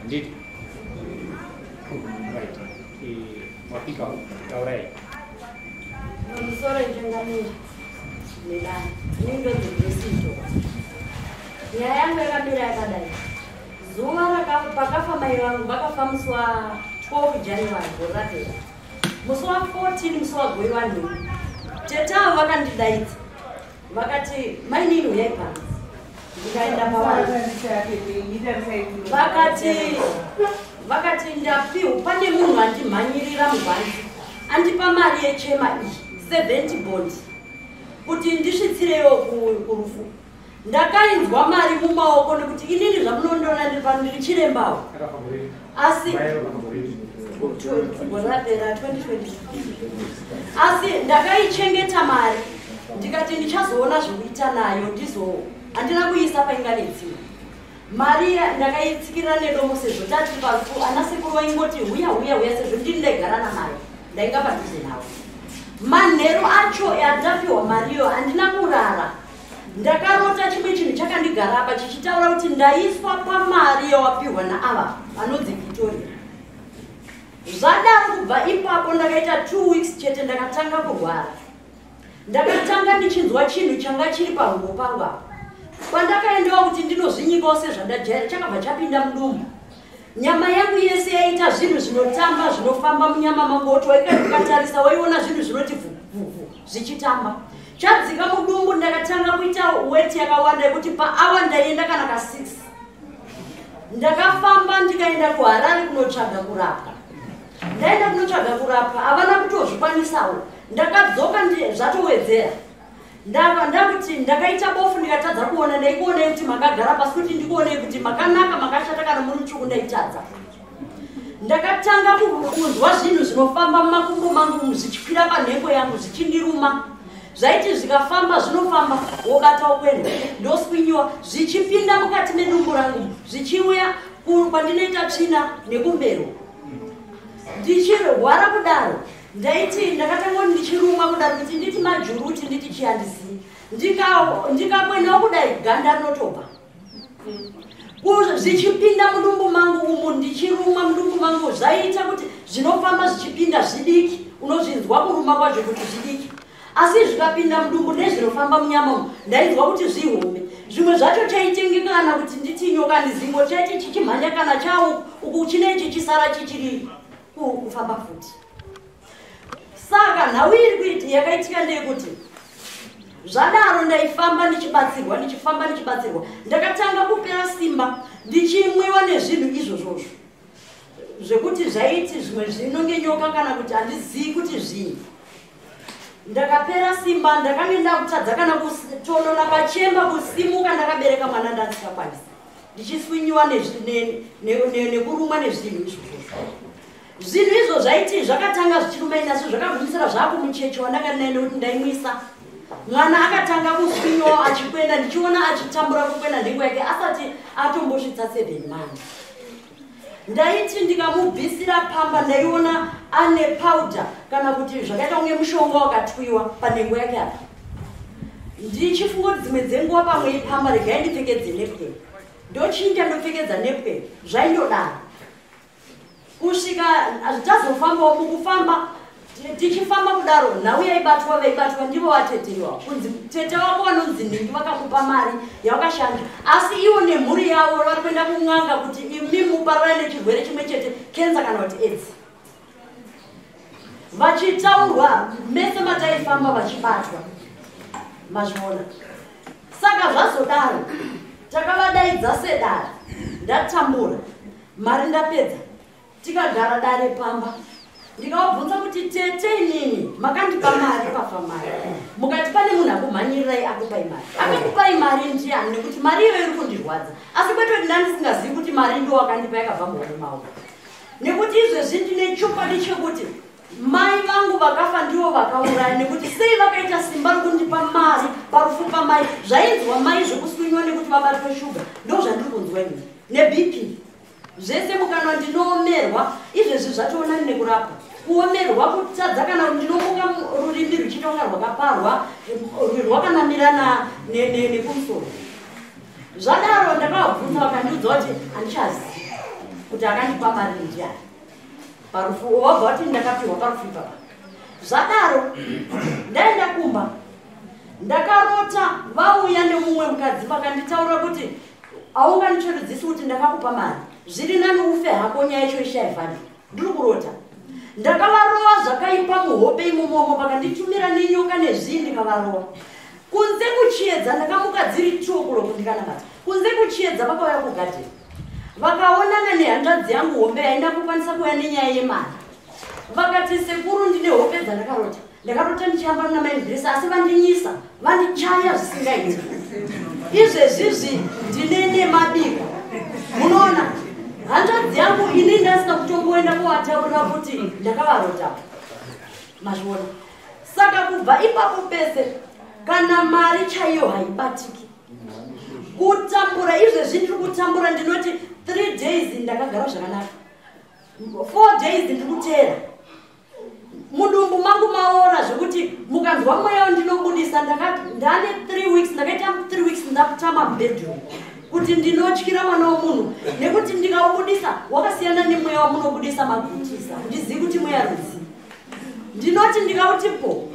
Handiti? Right. Eh, mapika taurai. Musoro njengamira. Melani. Ini ndozvibvesito. Nyaya yangu yakamira yakadai. Zuva rakafa pakafa mai vangu vakafa musi wa 12 January gore rapera. Musi wa 14 musi wa gore vanhu. Tete avo vakandidaidza. vakati mainini uyai pano ndikaenda pavari vakati vakati ndapiwa pane munhu andimhanyirira mubhanzi andipa mari yechema iyi 70 bond kuti ndisvitsireyo kurufu ndakainzwa mari mumaoko nekuti inini zvamunondiona ndiri pano ndiri chirembawo asi rapera 2022 asi ndakaichengeta mari ndikati ndichazoona zvekuita nayo ndizo handina kuiisa painga nedzimwe mari ndakaitsikirira nedomo sezvo tati pafu ana sekuru vaingoti huya huya huya sezvo ndini ndaigara namari ndainga padhuze navo manheru acho yandapiwa mariyo handina kurara ndakarota chimwe chinhu chakandigarapa chichitaura kuti ndaiswa pamari yawapihwa naava vanonzi victoria zvadaro kubva ipapo ndakaita two weeks chete ndakatanga kurwara ndakatanga ndichinzwa chinhu changa chiri pahungo pangu apa pandakaendawo kuti ndinozvinyikawo sezvandajaira chakabva chapinda mudumbu nyama yangu yese yaita zvinhu zvinotamba zvinofamba munyama mangu woti waikaikatarisa waiona zvinhu zvinoti vhuvhuvhu zvichitamba chadzika mudumbu ndakatanga kuita weti yakawanda yekuti paawa ndaienda kana ka six ndakafamba ndikaenda kuharare kunotsvaga kurapwa ndaenda kunotsvaga kurapwa havana kutozvikwanisawo ndakadzoka zvatowedzera ndava ndakuti ndakaita bofu ndikatadza kuona ndaikuonei kuti makagara pasi kuti ndikuonei kuti makanaka makashata kana muri mutsvuku ndaitadza ndakatanga kunzwa zvinhu zvinofamba mumakumbo mangu zvichikwira panhengo yangu zvichindiruma zvaiti zvikafamba zvinofamba wobata wokwenda ndoswinyiwa zvichipinda mukati medumbu rangu zvichiuya kwandinoita tsvina nekumbero ndichirwara kudaro Ndaiti ndakatanga kuti ndichirumwa kuda kuti nditi majuru kuti nditi chii handizivi. Ndikakwena kudai ganda rinotobva. Zvichipinda mudumbu mangu umu ndichirumwa mudumbu mangu zvaiita kuti zvinofamba zvichipinda zvidiki unozvinzwa kuruma kwazvo kuti zvidiki asi zvikapinda mudumbu nezvinofamba munyama umu ndainzwa kuti zvihombe zvimwe zvacho chaitengekana kuti nditi nyoka ndizingo chaiti chichimhanya kana chau uku chine chichisara chichiriri kufamba futi saka nhau iri kuiti yakaitika ndeyekuti zvadaro ndaifamba ndichibatsirwa ndichifamba ndichibatsirwa ndakatanga kupera simba ndichimwiwa nezvinhu izvozvozvo zvekuti zvaiti zvimwe zvinonge nyoka kana kuti handizivi kuti zvinhu ndakapera simba ndakange ndakutadza kana kutonona pachemba kusimuka ndakabereka mwana ndandisakwanisa ndichiswinyiwa nekurumwa nezvinhu izvozvo zvinhu izvo zvaiti zvakatanga zvichirumainasi zvakagumisira zvakumuchechi wandanga ndinaye nekuti ndaimwisa mwana akatanga kuswinyawo achikwenda ndichiona achitambura kukwenda nhengo yake asati atombosvitsa seven months ndaiti ndikamubvisira pamba ndaiona ane powder kana kuti zvakaita kunge mushonga wakatwiwa panhengo yake apa ndichifunga kuti dzimwe dzenguva pamwe ipamba regai ndipfekedze nepwe ndochinja ndopfekedza nepwe zvaindodaro kusvika hazvichazofambawo mukufamba tichifamba kudaro nhau yaibatwa vaibatwa ndivo vatete wavo kunzi tete wako vanonzi nhingi vakakupa mari yavakashanda asi ivo nemhuri yavo vari kuenda kun'anga kuti imi muparara nechirwere chimwe chete kenza kana kuti aids vachitaurwa mese mataifamba vachibatwa mazviona saka zvazodaro takavadaidza sedara ndatambura mari ndapedza tikagara dare pamba ndikavabvunza kuti tete inini makandipa mari pafa mari mukati pane munhu akumhanyirirai akupai mari akakupai mari ndiani nekuti mari iyoyo iri kundirwadza asi kwete kuti ndandisingazivi kuti mari ndo wakandipa yakabva muhomwe maoko nekuti izvezvi ndine chokwadi chekuti mai vangu vakafa ndivo vakauraya nekuti sei vakaita simba rokundipa mari parufu pamai zvainzwa mai zvekusunywa nekuti vabatwe shuga ndo zvandiri kunzwa ini nebp zvese mukanwa ndinoomerwa izvezvi zvatoonani nekurapwa kuomerwa kutadza kana ndinomuka rurimi ruchitonga rwakaparwa rwakanamirana nekumusoro zvadaro ndakavabvunza vakandiudza kuti handichazi kuti akandipa mari ndiani parufu wabva wati ndakapiwa parufu ipapa zvadaro ndaenda kumba ndakarota vauya nemumwe mukadzi vakanditaura kuti aunganichoridzisi kuti ndakakupa mari zviri nani ufe hako nyaya icho ishaivhani ndiri kurota ndakavarowa zvakaipa muhope imomomo vakanditumira nenyoka nezvii ndikavarowa kunze kuchiedza ndakamuka dziri two kuloku ndikanamata kunze kuchiedza vakauya kugadeni vakaonana nehanzvadzi yangu hombe yainda kukwanisa kuuya nenyaya yemari vakati sekuru ndine hope dzandakarota ndakarota ndichiyamba muna maindresa asi vandinyisa vandichaya zvisingaiti izvezvizvi ndine nemabiko munoona hanzvadzi yangu ini ndasina kutongoenda kuvataurira kuti ndakavarota mazviona saka kubva ipapo pese kana mari chaiyo haibatiki kutambura izvezvi ndiri kutambura ndinoti three days ndakagara zvakanaka four days ndikuteera mudumbu mangu maora zvekuti mukanzwa mweya ndinobudisa ndane three weeks ndakaita three weeks ndakutama bedroom kuti ndinotyira mwana wemunhu nekuti ndikaubudisa wakasiyana nemweya wamunobudisa magutisa ndizivi kuti mweya ruzi ndinoti ndikauti po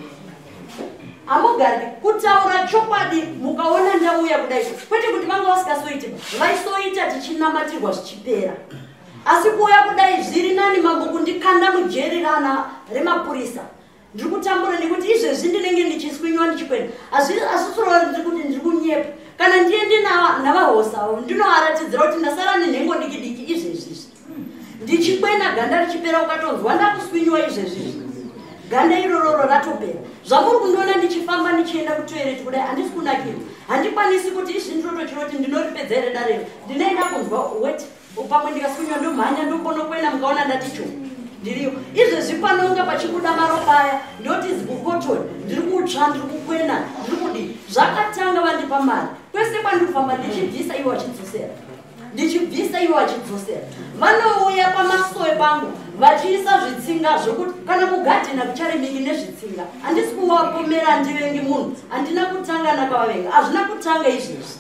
hamugari kutaura chokwadi mukaona ndauya kudai kwete kuti vanga vasikasoiti vaisoita tichinamatirwa zvichipera asi kuuya kudai zviri nani mambo kundikanda mujeri rana remapurisa ndiri kutambura nekuti izvezvi ndinenge ndichiswinywa ndichikwenda asisirova ndiri kuti ndiri kunyepa kana ndiende navahosawo ndinovaratidzira kuti ndasara nenhengo dikidiki izvezvizvi ndichikwena ganda richipera ukatonzwa ndakuswinywa izvezvizvi ganda irororo ratopera zvamuri kundiona ndichifamba ndichienda kutoireti kudai handisi kunakirwa handikwanisi kuti izvi ndinotochiroti ndinoripedza here darero ndinoenda kunzwa wet pamwe ndikasunywa ndomhanya ndoponokwena mukaona ndati cho ndiriyo izvezvi panonga pachikuda maropa aya ndoti zibukotoni ndiri kutsva ndiri kukwena ndiri kudii zvakatanga vandipa mari kwese kwandikufamba ndichibvisa ivo vachidzosera ndichibvisa ivo vachidzosera vanouya pamasowe pangu vachiisa zvitsinga zvokuti kana kugadhina kucharimiki nezvitsinga handisi kuvakomera handivengi munhu handina kutanga nakavavenga hazvina kutanga izvezvi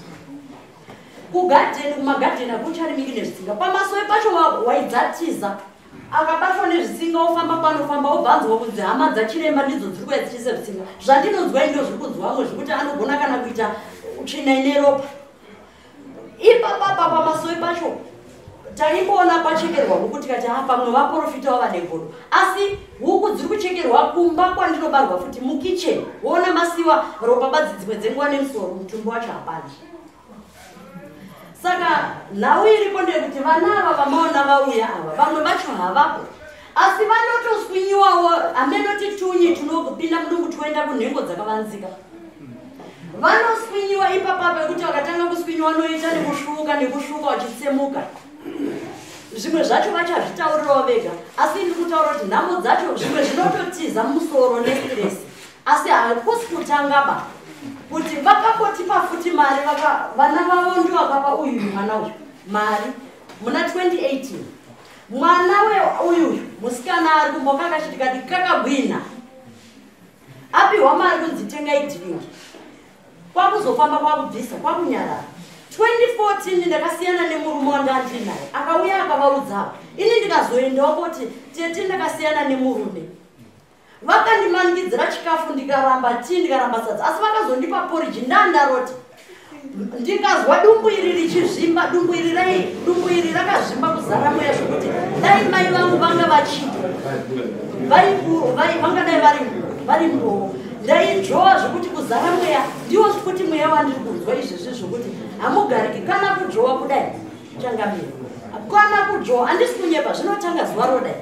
kugadheni kumagadheni akucharimiki nezvisinga pamasowe pacho waidzatiza akabatwa nezvisinga ofamba panofamba obvanzwa kunzi hama dzachiremba ndidzo dziri kuya dzichiisa zvisinga zvandinonzwa indo zviri kunzi wamwe zvekuti anogona kana kuita tsvina ine ropa ipapapa pamasowe pacho taingoona pachekerwa huku tikati ha pamwe vaprofita wava negodo asi huku dziri kuchekerwa kumba kwandinobarwa futi mukitchen woona masiwa ropa badzi dzimwe dzenguva nemusoro mutumbi wacho hapana saka nhau iripo ndeyekuti vana ava vamaona vauya ava vamwe vacho havapo asi vanotoswinyiwawo hameno titunyi tunopinda mudumbu toenda kunhengo dzakavanzika vanoswinyiwa ipapa pekuti vakatanga kuswinyiwa vanoita nekusvuka nekusvuka vachitsemuka zvimwe zvacho vachazvitaurirawo vega asi ndi kutaura kuti nhamo dzacho zvimwe zvinototiza musoro nesiresi asi hakusi kutanga ba kuti vakakotipa futi mari vana vavo ndivakapa uyu mwana uyu mari muna 2018 Mwana we uyu musikana ari kumboka kachiti kati kakabwina apihwa mari kunzi tengai drink kwakuzofamba kwakubvisa kwakunyarara 2014 ndakasiyana nemurume wanga andinaye akauya akavaudzawo ini ndikazoendawo koti tete ndakasiyana nemurume vakandimanikidzira chikafu ndikaramba tii ndikaramba sadza asi vakazondipa poriji ndandaroti ndikazwa dumbu iri richizvimba dumbu iri rai dumbu iri rakazvimba kuzara mweya zvekuti dai mai vangu vanga vachiti vangadai vari vari mbowo ndainzvowa zvekuti kuzara mweya ndiwo zvekuti mweya wandiri kunzwa izvezvi zvekuti hamugariki kana kudzvowa kudai changamira kana kudzvowa handisi kunyepa zvinotanga zuva rodai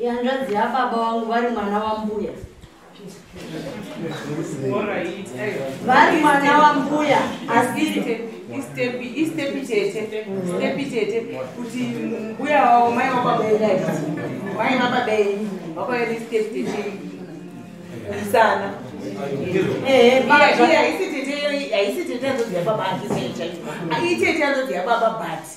yanzvadzi yababa wangu vari mwana wambuya vari mwana wambuya asiri kuti mbuya wavo mai vakabeeai mai vakabeei vakaeri step tete isana haisi tete anzodzi yababa aitete anzodzi yababa but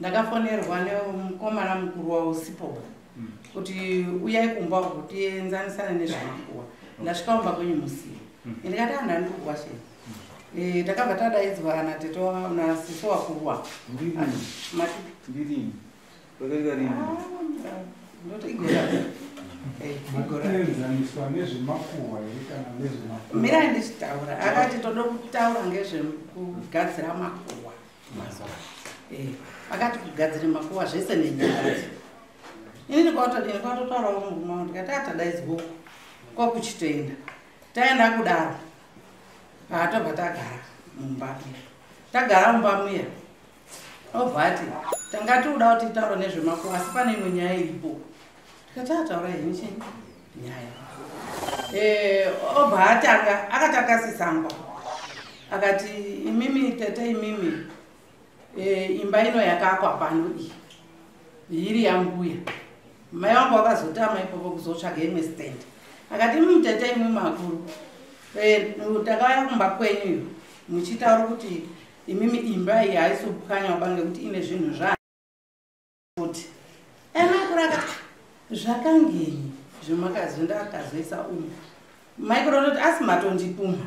ndakafonerwa nemukomana mukuru wausipo mm. kuti uyai kumba uko tienzanisane nezvemakuwa ndasvika kumba kwenyu musiye mm. ende kati anhu andi kukuwa shei mm. eh, takabva tadaidzwa kana teto nasiso wakuwa ndirini vakaita rini ah, ndotoigora eh, kuenzaniswa nezvemakuhwa here kana nezvemakuhwa mira ndichitaura akati toda kutaura ngezvekugadzira makuhwa eh, vakati kugadzira makuva zvese nenyaya ini ndikatodini kwatotaurawo murume wangu ndikati atadaidzwoko kwakuchitoenda taenda kudaro paatobva tagara mumba tagara mumba muya obva ati tanga tikuda kuti taura nezvemako asi pane imwe nyaya iripo Tatataura henyu chii? Nyaya. Eh, obva atanga akatanga sisangwa. Akati imimi tete imimi eh, imba ino yakakwa pano iyi. Iri yambuya. Mai wangu wakazotama ipopo kuzotsvaga imwe stand. Akati imimi tete imimi makuru. Eh, takauya kumba kwenyu iyo. Muchitaura kuti imimi imba iyi haisubukanywa bange kuti ine zvinhu zva futi ena akura akati zvakangenyi zvemakazwi ndakazoisa umu maikura toti asi matondipumha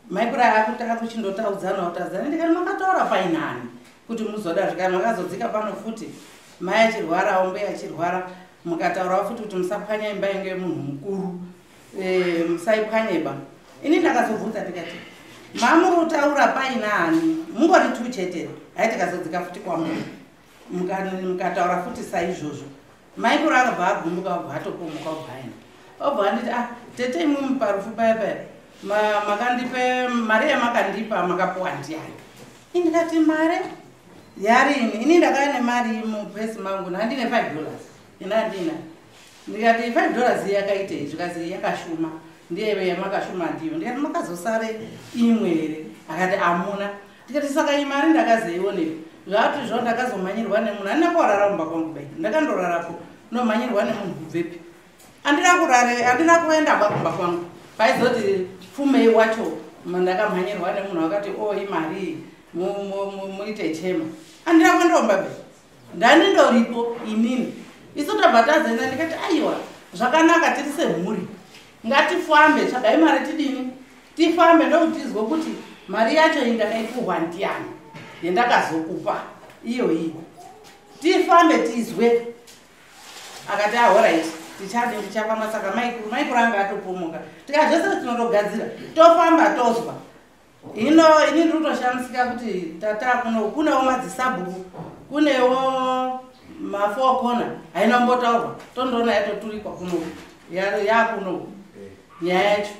maikura akuti akuchindotaudzana utaudzana ndikati makataura painani kuti muzoda zvikani makazodzika pano futi mai achirwarawo mbuya achirwara mukataurawo futi kuti musapwanya imba yange munhu mukuru Eh, musaipwanyeba ini ndakazobvunza ndikati mamurutaura paina hani mungori tu chete hai tikazodzika futi kwamuri mukataura futi saizvozvo maikuru akabva agumbuka obva atopomuka obva aenda obva anditi ah tete imwimi parufu paya paya makandipe mari yamakandipa makapuwa ndiyani indikati mari yarini ini ndakaya nemari mupesi mangu nandine five dollars inandina ndikati 5 dollars iye yakaitei zvikazi yakashuma ndiyeve yamakashuma ndiyo ndikati makazosare imwe here akati amuna ndikati saka iyi mari ndakazoionei zvaati zvo ndakazomhanyirwa nemunhu andina kuwarara kumba kwangu bai ndakandorarapo nomhanyirwa nemunhu kubvepi andina kurare andina kuenda ba kumba kwangu paizoti pfumei wacho ndakamhanyirwa nemunhu akati o oh, imari muite chema andina kuendaomba bai ndani ndoripo inini isu tabva tazoenda ndikati aiwa zvakanaka tiri semhuri ngatifambe tsvagai mari tidini tifambe ndokutizwe kuti mari yacho iyi ndakaipuhwa ndiyani yendakazokupa iyo iyi tifambe tizwe akati ahoraiti ah, tichadi tichafamba saka maikuru maikuru anga atopomoka tika zvese tinotogadzira tofamba tozwa hino ini ndiri kutoshamisika kuti tata kuno kunewo madzisabhuku kunewo mafour corner haina kumbotaurwa tondoona yatoturikwa kuno yakuno nyaya yacho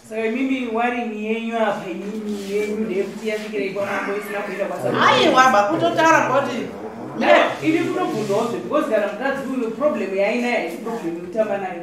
so imimi warini yenyu apa imimi yenyu ndeyekuti yasvikirei kwamambo isina kuita kwasaaiwa bakutotaura kuti ini kunobvunzawo zve because kana mukadzi uyu problem yainayo haiproblem yekutamba nayo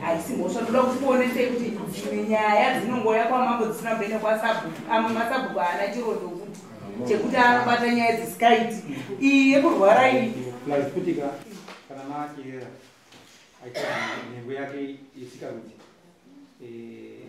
haisi mhosva toda kuti kuonesei kuti dzimwe nyaya dzinongoya kwamambo dzisina kuenda kwasabhuku amwe masabhuku haana chirondo kuti chekuti anobata nyaya dzisikaiti iyi yekurwara iyi lazikutika kana maakirera aita nhengo yake isikakuti eh,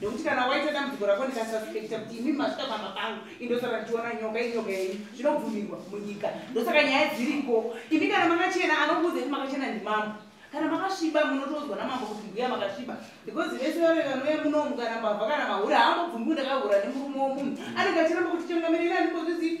nekuti kana waita dambudziko rako ndikasuspekta kuti imi masvika pamba pangu indosaka ndichiona nyoka inyoka yenyu zvinobvumirwa munyika ndosaka nyaya dziriko imi kana makachena anokuudza kuti makachena ndimambo kana makasviba munotodzwa namambo kuti mbuya makasviba because vese vave vanouya munomu kana mbavha kana mahura haambobvumbi kuti akahura nemurume womunhu anenge achiramba kuti changamirira andikozvizivi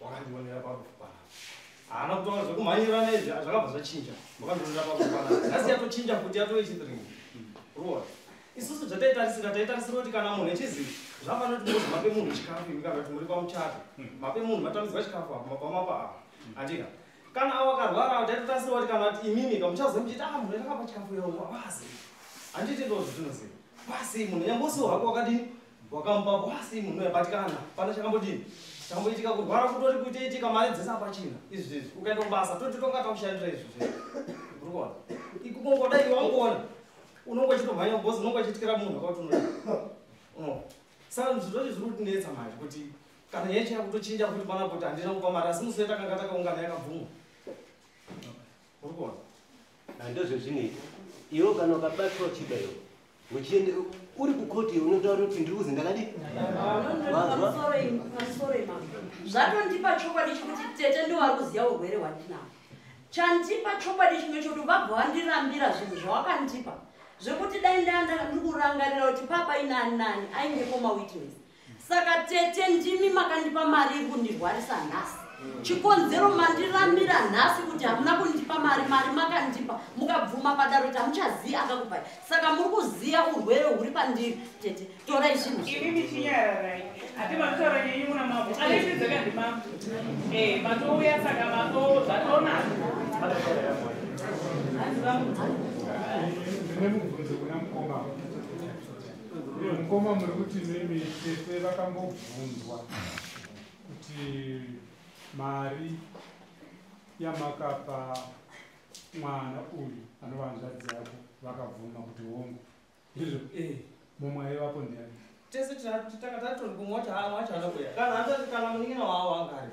wakandionera pakufa panapa haana kutaura zvekumhanyirana izvi zvakabva zvachinja wakandionera pakufa panapa nhasi yatochinja kuti yatove chithree roa isusu zvataitarisira taitarisira kuti kana munhu echizi zvafanira kuti mozi mape munhu chikafu imi kana kuti muri pamuchato mape munhu matamidzwa chikafu apa mapamapa apa andika kana avo akarwara taitotarisira kuti kana kuti imimi kamuchazo muchiti a ah, munhu yakapa chikafu yavo avazi handiti ndozvizvinoziva kwasei munhu nyambosiwo hako wakadini Wakamba kwasi munhu yabatikana. Pana chakambodini? Chamboitika kurwara kutori kutoitika mari dzese apachina. Izvi zvezvi ukaenda kubasa toti tonga takushandira izvi zvezvi. Urikuona? Ikukongoda iwe wangoona. Unongo chitomhanya boss unongo chitikira munhu akauti unoda. Uno. Saka zviro zviri kutinetsa manje kuti kana nyaya chakutochinja kuti pana kuti handina kupa mari asi musi wetakanga takaungana yakabvuma. urikuona handozvezvinei iwo kana ukabatwa uchida iwo uchiende uri kukoti unotaura kuti ndiri kuzi ndakadi zvatondipa chokwadi chekuti tete ndowari kuziva urwere hwandinao chandipa chokwadi chimwe chokuti vabva vandirambira zvinhu zvawakandipa zvekuti dai ndaa ndiri kurangarira kuti papa inani nani aingepo mawitness saka tete ndimi makandipa mari iri kundirwarisa nhasi mm. chikonzero mandiramira nhasi kuti hamuna kundipa mari mari makandipa mukabvuma padaro kuti hamuchaziva akakupai saka muri kuziva urwere huri pandiri tete torai zvinhu ini ndichinyararai hati mataura nyenyi muna mambo aleizvizeka ndimambo e matouya saka matoo zvatona hanzi vamudzi mukoma muri kuti mimi tete vakambobvunzwa kuti mari yamakapa mwana uyu anova hanzvadzi yako vakabvuma kuti hongu izvo e eh, mumwe aivapo ndiani tese tanga tatori kumwe wacho haa wacho anokuya kana atoti kana munin'ina wawo angari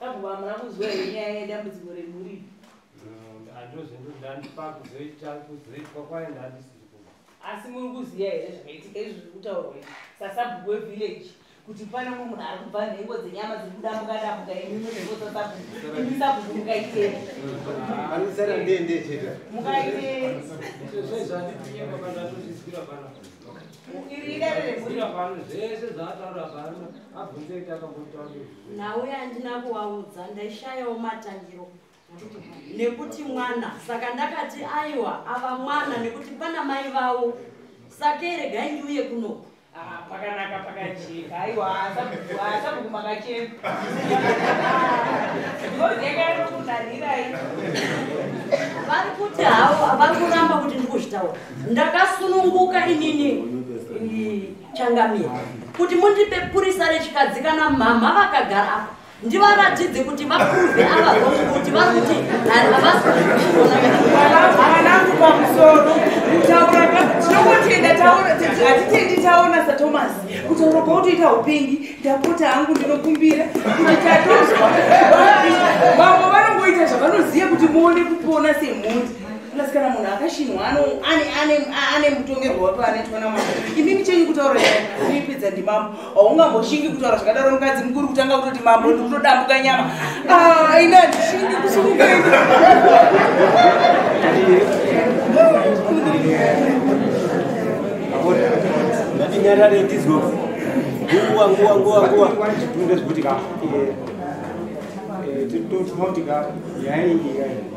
Tambo hamuna kuzwa here nyaya yedambudziko remhuri? Andozve ndandipa kuzoita kuzoitwa kwaye ndandisi asi muri kuziva here zvakaitika izvi zviri kutaurwa izvi sasabhuku wevillage kuti pane mumwe munhu ari kubva nhengo dzenyama dziri kudamuka damuka imimi nhengo dzasabhuku imi sabhuku mukaitei anosara ndende chete mukaitei nauye andina kuvaudza ndaishayawo matangiro nekuti mwana saka ndakati aiwa ava mwana nekuti pana mai vavo sakei regai ndiuye kuno ah, pakanaka pakajeka aiwa haasa kuti makachema ndozekairokunarirai vari kuti havo vari kuramba kuti ndikuzvitaura ndakasununguka inini changamira kuti mundipe purisa rechikadzi kana mhamha vakagara apa ndivaratidze kuti vaprove ava hongu kuti vari kuti havasiaanangu pamusoro kutaura tinongotenda taona hatitendi taona satomas kutaura kwautoita upengi ndapota hangu ndinokumbira kuti tatozwa vamwe vanongoita zvavanoziva kuti muone kupona semhundi plus kana munhu akashinwa ane mutongerwo wapi anoitwa namama imimi chenyu kutaura ipedza ndimambo haungamboshingi kutaura zvakadaro mukadzi mukuru kutanga kutoti mambo ndikutodambuka nyama ah, ina ndishingi kusumuka nyarare ndizwo nguwa nguwa nguwa nguwa ndezvekuti ka eh, eh, tinotika nyaya iyi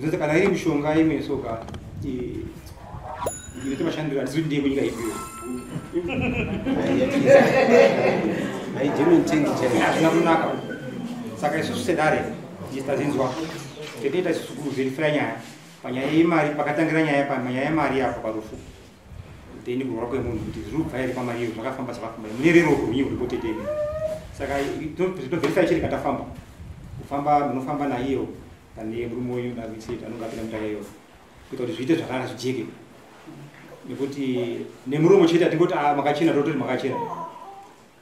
zvese kana iri mishonga imwe soka inoita mashandiro handisi kuti ndiye kunyika ipiwe hazvina kunaka saka isusu sedare tazinzwa tetoita isusu kuzirifira nyaya panyaya yemari pakatangira nyaya panyaya yemari yapo parufu Tende kurwara kwemunhu kuti zviri kubva here pamari iyo zvakafamba zvakafamba mune rero rwenyu ruripote tende saka tobvisa ichiri katafamba kufamba munofamba naiyo pane murume uyu navisit anonge apinda mutaya iyo kuita kuti zviite zvakanaka zvijeke nekuti nemurume chete atingoti ah, makachena tototi makachena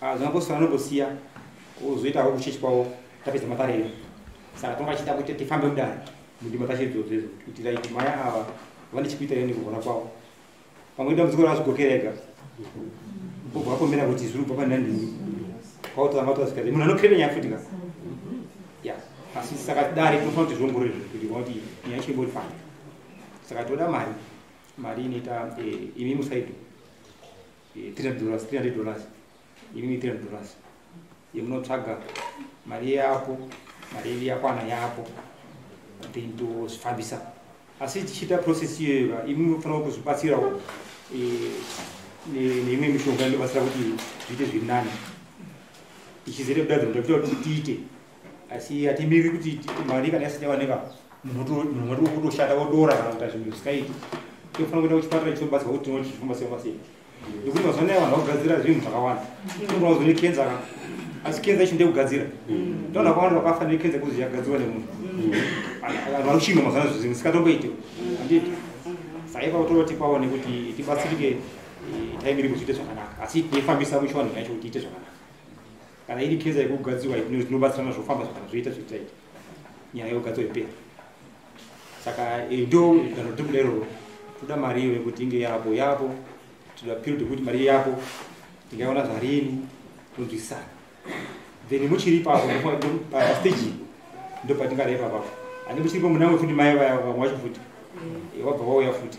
Ah, zvinongosiyana anongosiya ozoita havo kuchechi kwavo tapedza maparero saka tanga achiita kuti tifambe kudai mundima tacho idzodzo idzo kuti like maya ava vane chikuita ine kugona kwavo pamwe dambudziko ravazvigokera ega obva akomera kuti zviri kubva pane nandini kwautanga utazvika munhu anokreve nyaya futi ka ya asi saka dare tinofanira kuti zviongorore zvinhu kuti kuti nyaya yacho imboifana saka toda mari mari inoita eh, imi musaido 300 dollars 300 dollars imimi 300 dollars yemunotsvaga mari yapo mari yedu yakwana yapo then tozvifambisa asi tichiita process iyoyo imimi munofanira kuzvibatsirawo eh, neimwe mishonga inobatsira kuti zviite zviri nani ichizere kudadzinoda kuita kuti tiite asi hatimiriri kuti mari kana yasati yawanika munhu kutoshanda wodora kana kuita zvinhu zvisingaiti tinofanira kuenda kuchipatara ichinobatsirwa kuti tinoti zvichifamba sei pasei nekuti mazuva anaya vanhu vakugadzira zvinhu zvakawanda tinoona kuzo nekenza ka asi kenza ichi ndekugadzira ndoona kwawanda vakafa nekenza kuzi yakagadzirwa nemunhu vanhu vari kushinga mazuva anaya zvinhu zisikatomboite handiti saipa kutoti paone kuti tibatsirike eh, taimiri kuzviite zvakanaka asi tinefambisa muchiwanhu yacho kuti iite zvakanaka kana iri keza yekugadzirwa inobatsirana zvofamba zvakana zvoita zvoitaita nyaya yogadzwa ipera saka eh, ndo danho ritobuda iroro toda mari iyo yekuti inge yapo yapo toda period yekuti mari yapo tingaiona zvarini tonzwisana then muchiri papo pastage ndopatingareva papo ani muchiripo munamwe futi mai vaya vamwe wacho futi eh, wabva wauya futi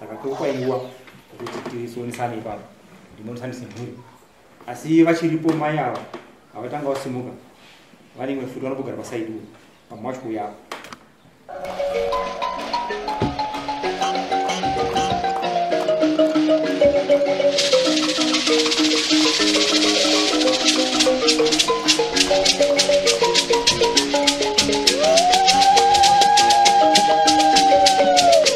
saka tokwaiwa kuti tisonisane ipapo ndimonisane semhuri asi vachiripo mai ava avatanga vasimuka vane imwe futi vanobogara pasaidi uyo pamwe wacho kuuya apo